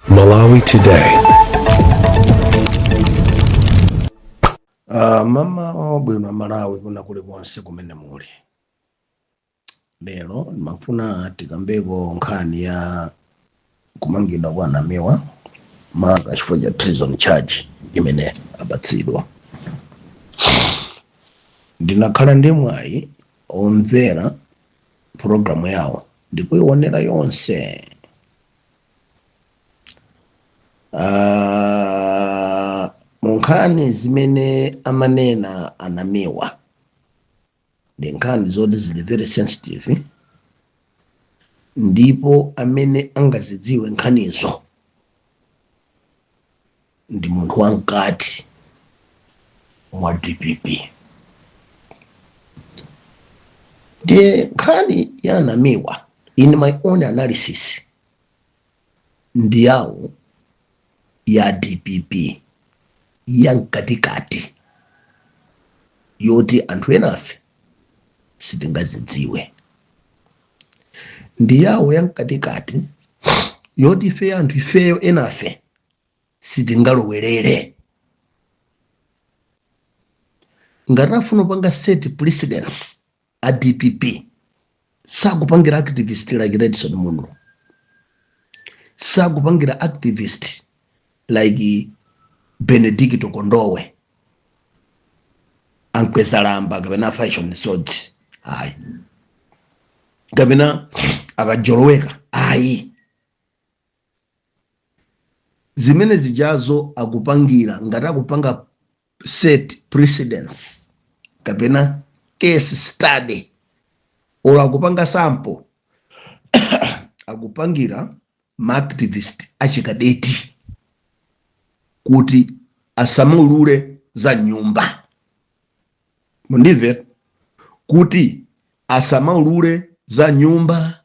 Malawi Today. Uh, mmawa wabwino a Malawi kuna kuli konse kumene muli lero ndimafuna tikambeko nkhani ya kumangidwa kwa a Namiwa maka chifukwa cha treason charge imene apatsidwa ndinakhala ndi mwayi omvera programu yawo ndikuionera yonse Ah, mu nkhani zimene amanena a Namiwa ndi nkhani zoti zili very sensitive ndipo amene angazidziwe nkhanizo ndi munthu wamkati mwa dpp ndiye nkhani ya a Namiwa in my own analysis ndi yawo ya dpp ya mkatikati yoti anthu enafe sitingazidziwe ndi yawo ya mkatikati yoti ifeyo anthu ifeyo enafe sitingalowerere ngati afuna kupanga set precedence a dpp sakupangira activist like redson munlo sakupangira activist like benedicto kondowe a mkwezalamba kapena fashion sodzi ayi kapena a kajoloweka ayi zimene zijazo akupangira ngati akupanga set precedence kapena case study or akupanga sample akupangira maactivist achikadeti kuti asamaulule za m'nyumba mundimve kuti asamulule za nyumba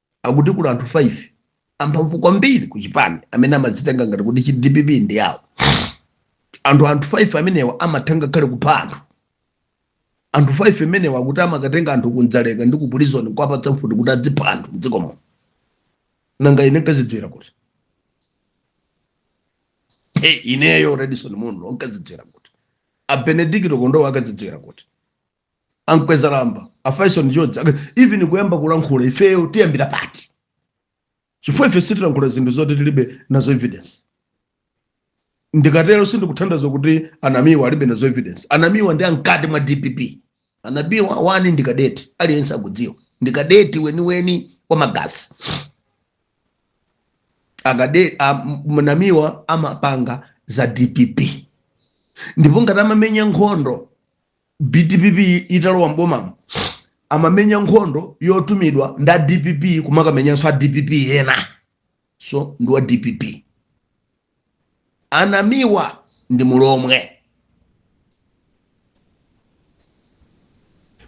Akuti kuli anthu 5 amphamvu kwambiri ku chipani amene amadzitenga ngati kuti dpp ndi yawo. Anthu 5 amenewa amatha ngakhale kupha anthu. Anthu 5 amenewa akuti amakatenga anthu ku Dzaleka ndi ku prison nkuwapatsa mfuti kuti azipha anthu m'dziko muno. Nanga ine nkazidziwira kuti? Hey, ineyo Redson Munlo nkazidziwira kuti? A Benedicto Kondowe akazidziwira kuti? ankwezalamba a faison george even kuyamba kulankhula ifeyo tiyambira pati chifukwa ife sitilankhula zinthu zoti tilibe nazo evidence ndikatero sindikutanthauza kuti anamiwa alibe nazo evidence anamiwa ndi amkati mwa dpp anamiwa wani ndi kadeti aliyense akudziwa ndi kadeti weniweni wa magazi anamiwa amapanga za dpp ndipo ngati amamenya nkhondo Dpp italowa m'boma amamenya nkhondo yotumidwa nda dpp kumakamenyanso a dpp ena so ndi wa dpp anamiwa ndi mulomwe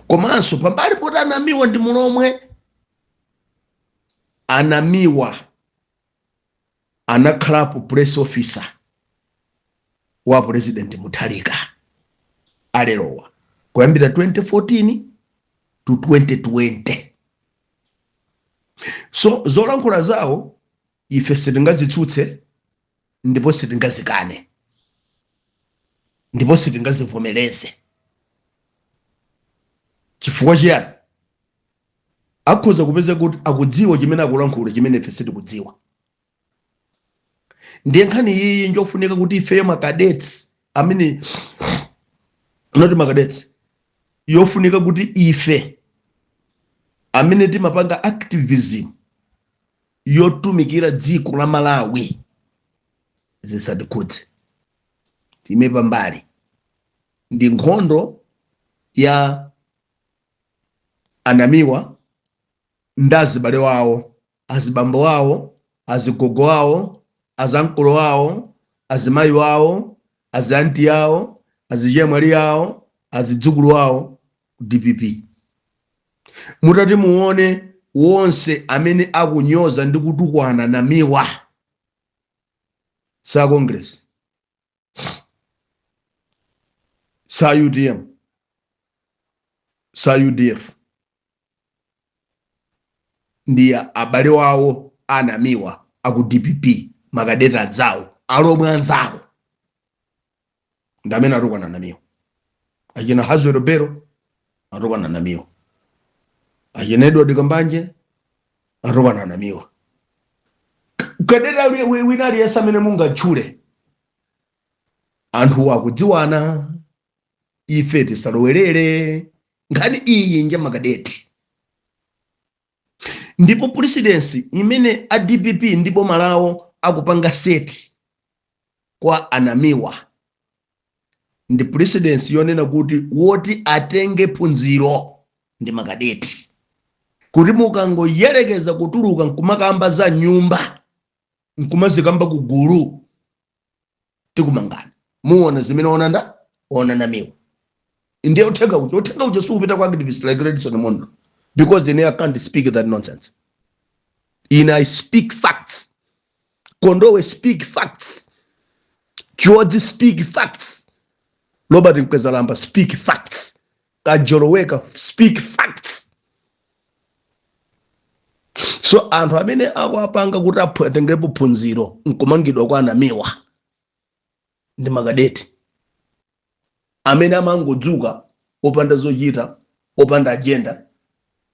komanso pambali poti anamiwa ndi mulomwe anamiwa anakhalapo press officer wa president Mutharika alerowa kuyambira 2014 to 2020 so zolankhula zawo ife sitingazitsutse ndipo sitingazikane ndipo sitingazivomereze chifukwa chiyani Akhoza kupeza kuti akudziwa chimene akulankhula chimene ife sitikudziwa. Ndiye nkhani iyi njofunika kuti ifeyo makadetsi amene not makadetsi yofunika kuti ife amene timapanga activism yotumikira dziko la Malawi zisatikhudze time pambali ndi nkhondo ya anamiwa ndi azibale wawo azibambo wawo azigogo wawo azankolo wawo azimayi wawo azianti yawo azichemwali yawo azidzukulu wawo a dpp mutati muone wonse amene akunyoza ndi kutukwana namiwa sa congress sa udm sa udf ndi abale wawo anamiwa aku dpp makadeti anzawo alomwe anzawo ndamene atukwana namiwa achina hazwero bero atukwana namiwa achina edward kambanje atukwana namiwa kadeti wina aliyense amene mungatchule anthu akudziwana ife tisalowerere nkhani iyi nja makadeti ndipo precedence imene a dpp ndi boma lawo akupanga seti kwa anamiwa ndi precedence yonena kuti woti atenge phunziro ndi makadeti kuti mukangoyerekeza kutuluka nkumakamba za nyumba nkumazikamba ku gulu tikumangani muona zimene waona nda waona namiwa ndiye uthenga uja uthenga uja siupita kwa activist like redison mondo because ine i can't speak that nonsense ine i speak facts Kondowe speak facts. Chiodzi speak facts. Robert Mkwezalamba speak facts. Kajoloweka speak facts. So anthu amene akuwapanga kuti aphu- atengerepo phunziro nkumangidwa kwa a Namiwa ndi makadeti amene amangodzuka opanda zochita opanda agenda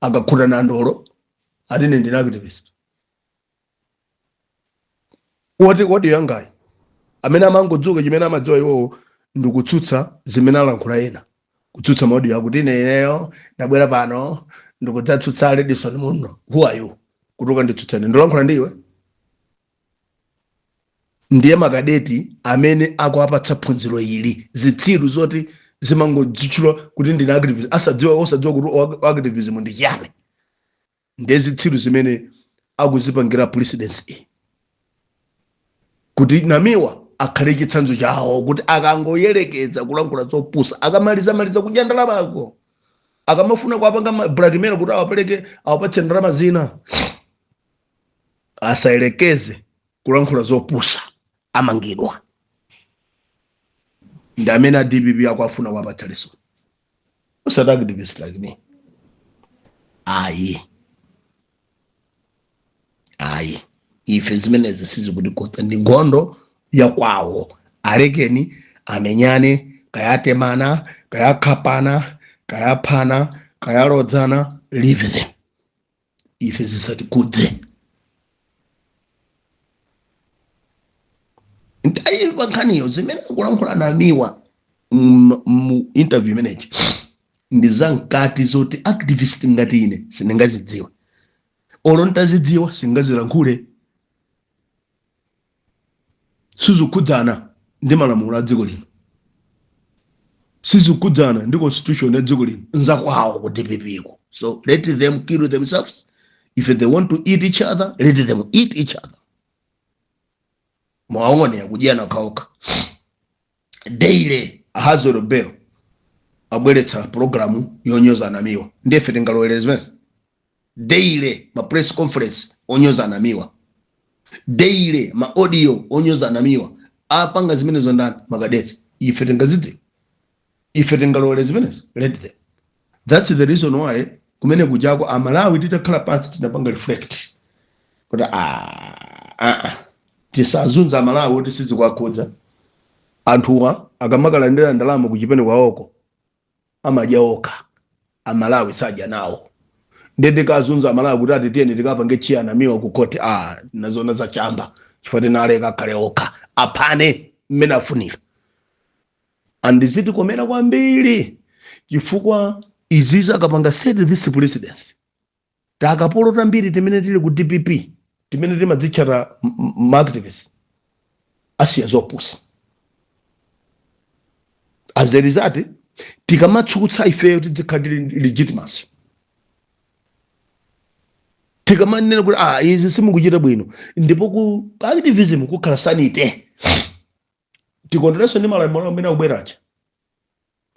akakhuta nandolo ati ine ndine activist odi odi yangayi amene amangodzuka chimene amadziwa iwowo ndikutsutsa zimene alankhula ena kutsutsa ma audio akuti ine ineyo ndabwera pano ndikudzatsutsa redison muno who are you kuti ukanditsutsane ndikulankhula ndi iwe ndiye makadeti amene akuwapatsa phunziro ili zitsiru zoti zimangodzitchula kuti ndine activist asadziwa osadziwa kuti o- o- activism ndi chiyani ndiye zitsiru zimene akuzipangira precedence iyi kuti namiwa akhale chitsanzo chawo kuti akangoyerekeza kulankhula zopusa akamaliza maliza kudya ndalama ko akamafuna kuwapanga ma- blackmail kuti awapereke awapatse ndalama zina asayerekeze kulankhula zopusa amangidwa ndi amene a dpp akufuna kuwapatsa lesson osati activist like me ayi ayi ife zimenezi sizikutikhudza ndi nkhondo yakwawo alekeni amenyane kayatemana kayakhapana kayaphana kayalodzana leave them ife zisatikhudze ntayiripa nkhaniyo zimene akulankhula namiwa mu- mu interview imeneyi ndi zamkati zoti activist ngati ine sindingazidziwe olo ntazidziwa sindingazilankhule sizikukhudzana ndi malamulo a dziko lino sizikukhudzana ndi constitution ya dziko lino nzakwawo ku dpp ko so let them kill themselves if they want to eat each other let them eat each other muwaone akudyana okhaokha daily a Hazwell Bell abweretsa programu yonyoza a Namiwa nde ife tingalowelere zimenezo daily ma press conference onyoza a Namiwa daily ma audio onyoza a Namiwa apanga zimenezo ndani makadeti ife tingazidzi ife tingalowere zimenezo let them That's the reason why kumene kujako amalawi titakhala pansi tinapanga reflect kuti ah, ah, ah, tisazunze amalawi oti sizikuwakhudza anthuwa akamakalandira ndalama kuchipani kwaoko amadya okha amalawi sadya nawo ndiye tikazunza amalawi kuti ati tiyeni tikapange cheer Namiwa ku khoti ah, nazona zachamba chifukwa chake tinaleka akhale okha aphane mmene afunira and zitikomera kwambiri chifukwa izizi akapanga set this precedence takapolo tambiri timene tili ku dpp timene timadzitchata maactivist asiya zopusa as a result tikamatsutsa ifeyo tidzikhala ndi legitimacy tikamanena kuti ah izi simukuchita bwino ndipo ku activism kukhala sanity tikondwerenso ndi malamulo amene akubwera aja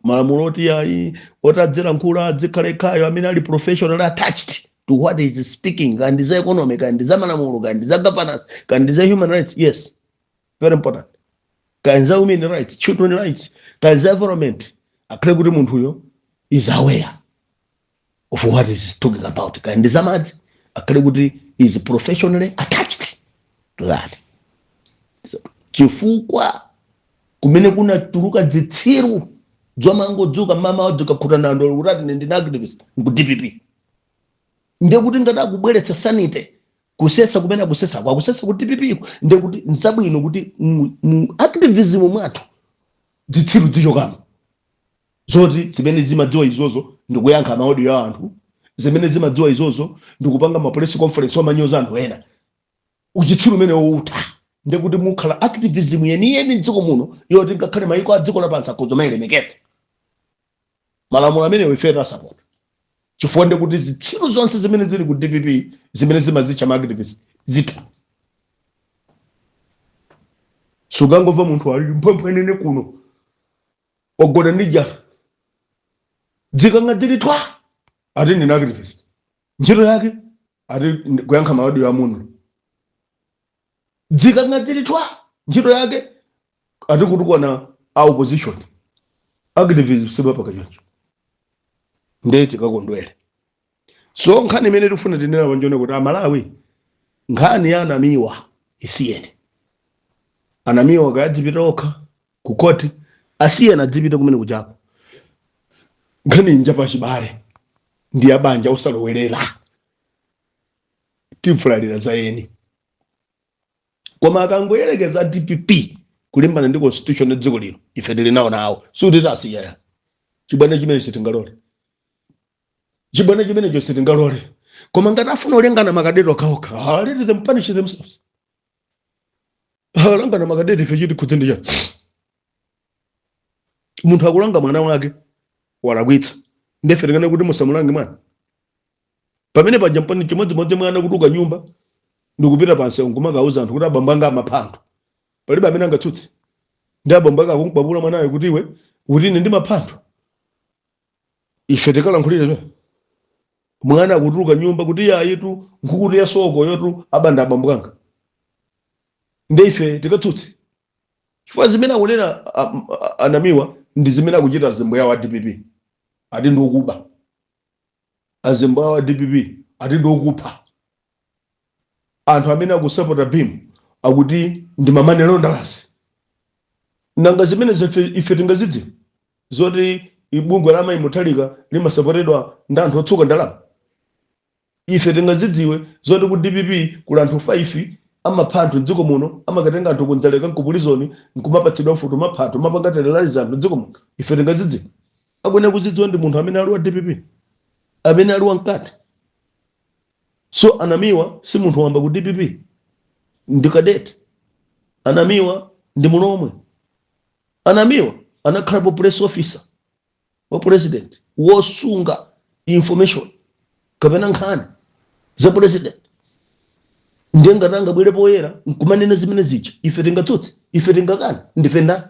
malamulo oti ayi oti adzilankhula adzikhala ekhayo amene ali professional attached to what he's speaking kaya ndi za economy kaya ndi za malamulo kaya ndi za governance kaya ndi za human rights yes very important kaya ndi za women rights children rights kaya ndi za environment akhale kuti munthuyo is aware of what he's talking about kaya ndi zamadzi akhale kuti is professionally attached to that so, chifukwa kumeneko kunatuluka dzitsiru dzomangodzuka mmawa wadzuka wakhuta nandolo kuti ati ine ndine activist ku dpp ndiye kuti ngati akubweretsa sanity kusesa kumene akusesako akusesa ku dpp ko ndiye kuti nzabwino kuti mu- mu activism mwathu dzitsiru dzichokamo zoti zimene zimadziwa izozo ndikuyankha maaudio a anthu zimene zimadziwa izozo ndikupanga ma press conference omanyoza anthu ena uchitsiru umenewo utha ndiye kuti mukhala activism yeniyeni mdziko muno yoti ngakhale mayiko a dziko lapansi akhoza kumayilemekeza malamulo amenewo ife tawasapota chifukwa ndiye kuti zitsiru zonse zimene zili ku dpp zimene zimadzitcha ma activist zitha sukangomva munthu ali mphwemphwenene kuno wagona ndi njala dzikang'a dzili thwa ati ndine activist ntchito yake ati kuyankha maaudio a munthu dzikang'a dzili thwa ntchito yake ati kutukwana a opposition activism sibapanga choncho ndee tikakondwere so nkhani imene tikufuna tinene apa nchonena kuti amalawi nkhani ya anamiwa isiyeni anamiwa kaya adzipita okha ku koti asiyeni adzipita kumene kujako nkhani inja pachibale ndi abanja osalowerera tifulatira za eni koma akangoyerekeza dpp kulimbana ndi constitution ya dziko lino ife tili nawo sikuti tasiya chibwana chimene sitingalole chibwana chimenecho sitingalole koma ngati afuna olengana makadeti okhaokha let them punish themselves Ah, langana makadeti ife chitikhudze ndi chiyani munthu akulanga mwana wake walakwitsa ndefe tingane kuti musamulange mwana pamene paja mpeni chimodzimodzi mwana kutuluka nyumba ndikupita pansewu nkumakauza anthu kuti abambo anga amapha anthu palibe amene angatsutse ndi abambo ake akumukwapula mwanayo kuti iwe uti ine ndimapha anthu ife tikalankhulire choncho mwana akutuluka nyumba kuti iye ayitu nkhukutu yasowa yotu abanda abambo anga nde ife tikatsutse chifukwa zimene akunena a- a- a- anamiwa ndi zimene akuchita azimbo yawo a dpp ati ndi okuba azimbo yawo a dpp ati ndi okupha anthu amene akusapota beam akuti ndi ma money launderers nanga zimenezi ife tingazidziwe zoti bungwe la mayi mutharika limasapotedwa ndi anthu otsuka ndalama ife tingazidziwe zoti ku dpp kuli anthu 5 amapha anthu mdziko muno amakatenga anthu ku dzaleka nku prison nkumapatsidwa mfuti kumapha anthu kumapanga terrorize anthu mdziko muno ife tingazidziwe akuyenera kuzidziwa ndi munthu amene ali wa dpp amene ali wamkati So Anamiwa si munthu wamba ku dpp, ndi cadet. Anamiwa ndi Mulomwe. Anamiwa anakhalapo press officer wa president, wosunga information kapena nkhani za president. Ndiye ngati angabwere poyera nkumanena zimene zija, ife tingatsutse? Ife tingakane? Ndife ndani?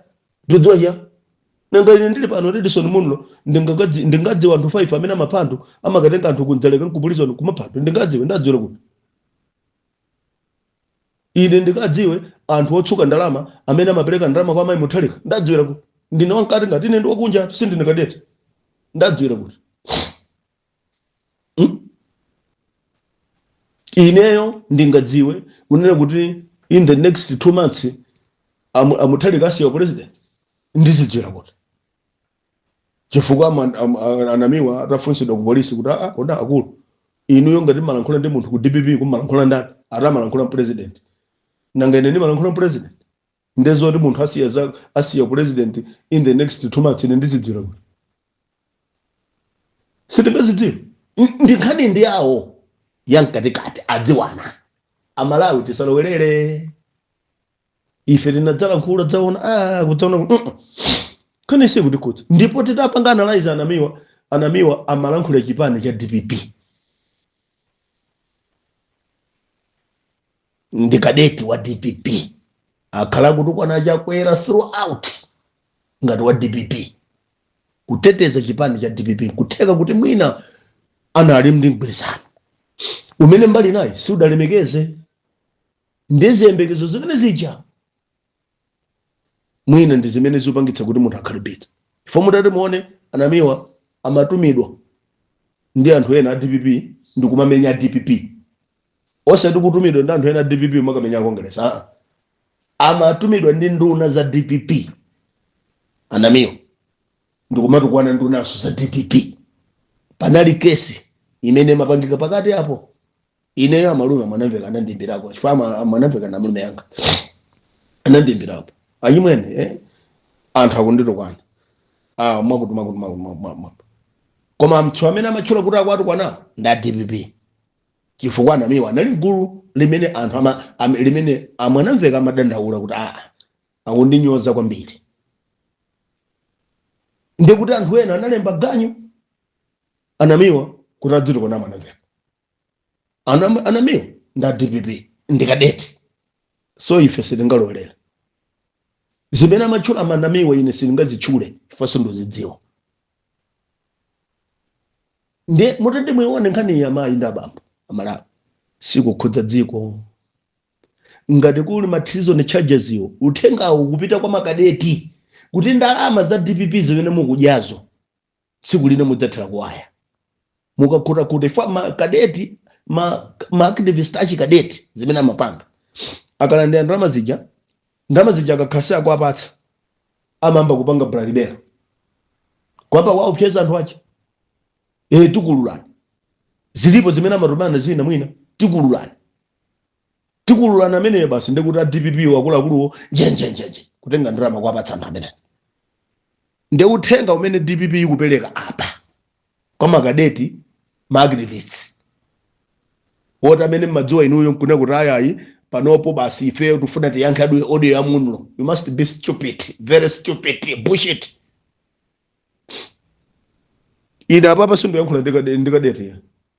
ndidziwa chiyani nanga ine ndili pano edison munlo ndingagadzi- ndingadziwa anthu 5 amene amapha anthu amakatenga anthu ku dzaleka nku prison kumapha anthu ndingadziwe ndadziwira kuti ine ndikadziwe anthu otsuka ndalama amene amapereka ndalama kwa amayi mutharika ndadziwira kuti ndine wamkati ngati ine ndi wakunja sindine kadeti ndadziwira kuti Hmm? ineyo ndingadziwe kunena kuti in the next two months amu- amutharika asiya upresident ndizidziwira kuti chifukwa ama- am- a- anamiwa atafunsidwa ku polisi kuti aa kodi akulu inuyo ngati mumalankhula ndi munthu ku dpp mumalankhula ndani ati amalankhula ndi president nanga ine ndimalankhula ndi president nde zoti munthu asiya za asiya president in the next two months ine ndizidziwa bwino sitingazidziwe N- ndi nkhani ndi yawo ya mkatikati adziwana amalawi tisalowerere ife tinadzalankhula dzaona ah, kudzaona kuti, "Mm-mm." nkhani si kuti kuti ndipo titapanga analyze anamiwa anamiwa amalankhula chipani cha dpp ndi kadeti wa dpp akhala akutukwana a chakwera throughout ngati wa dpp kuteteza chipani cha dpp kutheka kuti mwina anali ndi mgwirizano umene mbali inayi siudalemekeze ndi ziyembekezo zimene zija mwina ndi zimene zipangitsa kuti munthu akhale bitter chifukwa mutati muone anamiwa amatumidwa ndi anthu ena a dpp ndi kumamenya a dpp osati kutumidwa ndi anthu ena a dpp nkumakamenya a kongeresi aa amatumidwa ndi nduna za dpp anamiwa ndi kumatukwana ndunanso za dpp panali case imene imapangika pakati apo ineyo amalume amwanamveka anandimbirako chifukwa ama- amwanamveka nda malume anga anandimbirako achimwene eh? anthu akunditukwana ah, mwakuti mwakuti mwakuti mwakuti mwakuti koma anthu amene amatchula kuti akuwatukwana ndi a dpp chifukwa anamiwa anali mgulu limene anthu ama, am, limene amwanamveka amadandaula kuti aa akundinyoza kwambiri ndikuti anthu ena analemba ganyu anamiwa kuti adzitukwana amwanamveka Anam- anamiwa nda dpp ndi kadeti so ife sitingalowerere zimene amatchula anamiwa ine sindingazitchule chifukwa sindizidziwa ndiye mutati muione nkhani amayi ndi abambo amalawi ikukhudza dziko ngati kuli ma treason charges iwo uthengawo kupita kwa makadeti kuti ndalama za dpp zimene mukudyazo tsiku lina mudzathera kuwaya mukakhutakhuta chifukwa makadeti ma, ma activist achikadeti zimene amapanga akalandira ndalama zija ndalama zija akakhala sakuwapatsa amayamba kupanga blackmail kuyamba kuwaopseza anthu aja e tikululani zilipo zimene amatumana zina mwina tikululani Tikululani ameneyo basi ndikuti a dpp wo akuluakuluwo njenjenjenje kutenga ndalama kuwapatsa anthu amene nde uthenga umene dpp ikupereka apa kwa makadeti ma activists woti amene mmadziwa inuyo nkunena kuti ayayi panopo basi ifeyo tifuna tiyankhe adu- audio ya munlo you must be stupid very stupid bullshit ine apapa sindiyankhula ndikade- ndikadeti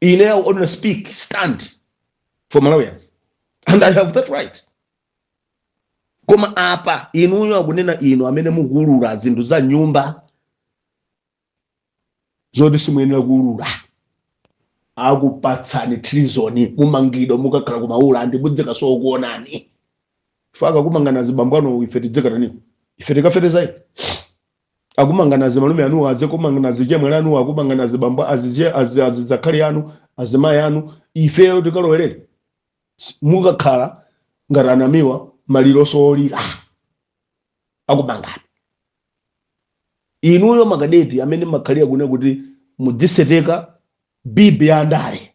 Ine I only speak stand for Malawians and I have that right. Koma apa inuyo akunena inu amene mukuulula zinthu za nyumba zoti simuyenera kuulula akupatsani treason mumangidwa mukakhala ku Maula and mudzikasowa okuonani fukwa akumangani azibambo anu ife tidzikatanipo ife tikafetezayi akumangani azimalume anu azikumangani azichemwali anu akumangani azibambo aziche azi azizakhali anu azimayi anu ifeyo tikalowerere S- mukakhala ngati a Namiwa maliro osowa olira akumangani inuyo makadeti amene mmakhalira kune kuti mudziseteka bibi ya ndale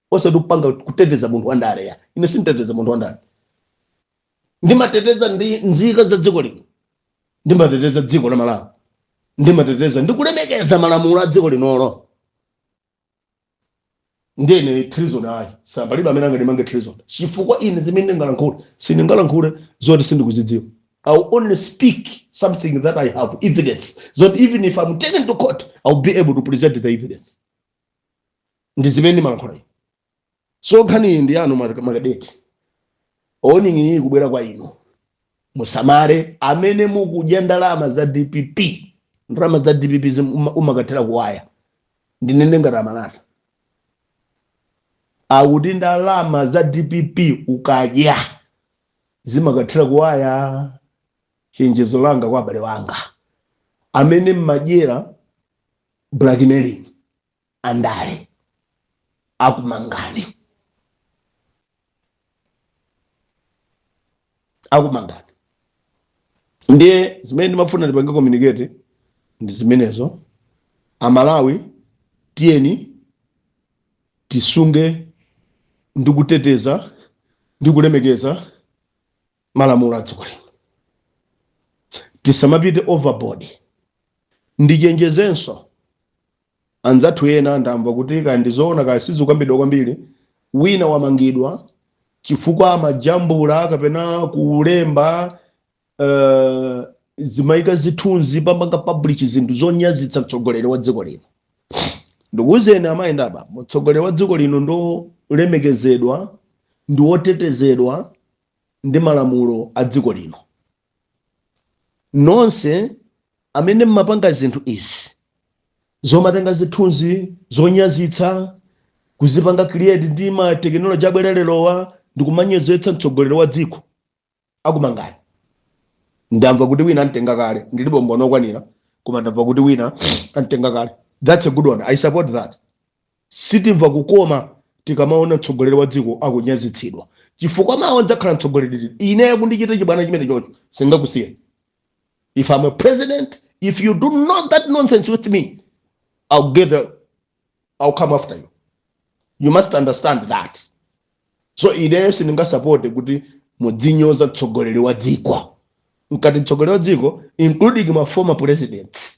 osati kupanga kuteteza munthu wandale ya ine sinditeteza munthu wandale ndimateteza ndi nzika za dziko lino ndimateteza dziko la malawi ndimateteza ndi kulemekeza malamulo a dziko linolo ndine treason ayi so palibe amene angandimange treason chifukwa ine zimene ndingalankhule sindingalankhule zoti sindikuzidziwa i will only speak something that i have evidence that even if i'm taken to court i will be able to present the evidence ndi zimene ndimalankhula ine so nkhani iyi ndi yanu ma- makadeti warning ikubwera kwa inu musamale amene mukudya ndalama za dpp ndalama za dpp zim- uma- umakathera kuwaya ndinene ngati a Malata akuti ndalama za dpp ukadya zimakathera kuwaya chenjezo langa kwa abale wanga amene mmadyera blackmailing andale akumangani akumangani ndiye zimene ndimafuna ndipange communicate ndi zimenezo amalawi tiyeni tisunge ndi kuteteza ndi kulemekeza malamulo a dziko lino tisamapite overboard ndichenjezenso anzathu ena ndamva kuti kaya ndizoona kaya sizikukambidwa kwambiri wina wamangidwa chifukwa amajambula kapena kulemba uh, zimayika zithunzi amapanga publish zinthu zonyazitsa mtsogoleri wa dziko lino ndikuwuzeni amayi ndi abambo mtsogoleri wa dziko lino ndi olemekezedwa ndi wotetezedwa ndi malamulo a dziko lino. Nonse amene m'mapanga zinthu izi zomatenga zithunzi zonyazitsa kuzipanga create ndi ma technology abwera lerowa ndikumanyozetsa mtsogoleri wa dziko akumangani. Ndamva kuti wina antenga kale, ndilibe umboni okwanira koma ndamva kuti wina antenga kale. That's a good one. I support that. Sitimva kukoma tikamaona mtsogoleri wa dziko akunyazitsidwa chifukwa mawa ndzakhala mtsogoleri ine kundichita chibwana chimenechocho singakusiyeni if I'm a president if you do not that nonsense with me I'll get the, I'll come after you you must understand that so ineyo sindingasapote kuti mudzinyoza mtsogoleri wa dziko nkati mtsogoleri wa dziko including ma former presidents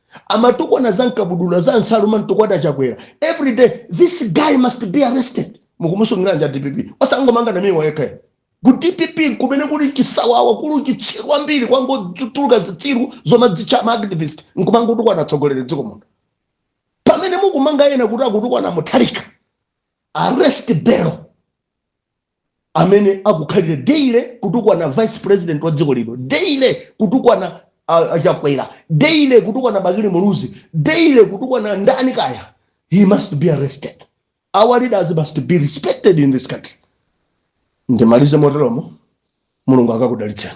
amatukwana za mkabudula za nsalu amantukwana chakwera every day this guy must be arrested mukumusungiranji a dpp osangomanga Namiwa yekha ku dpp kumene kuli chisawawa kuli chitsiru ambiri kwangotuluka zitsiru zomadzitcha ma activist nkumangotukwana atsogoleri dziko muno pamene mukumanga ena kuti akutukwana mutharika arrest belo amene akukhalira daily kutukwana vice president wa dziko lino daily kutukwana ah, ah, chakwera daily kutukwana bakili muluzi daily kutukwana ndani kaya he must be arrested our leaders must be respected in this country ndimalize moteromo mulungu akakudalitseni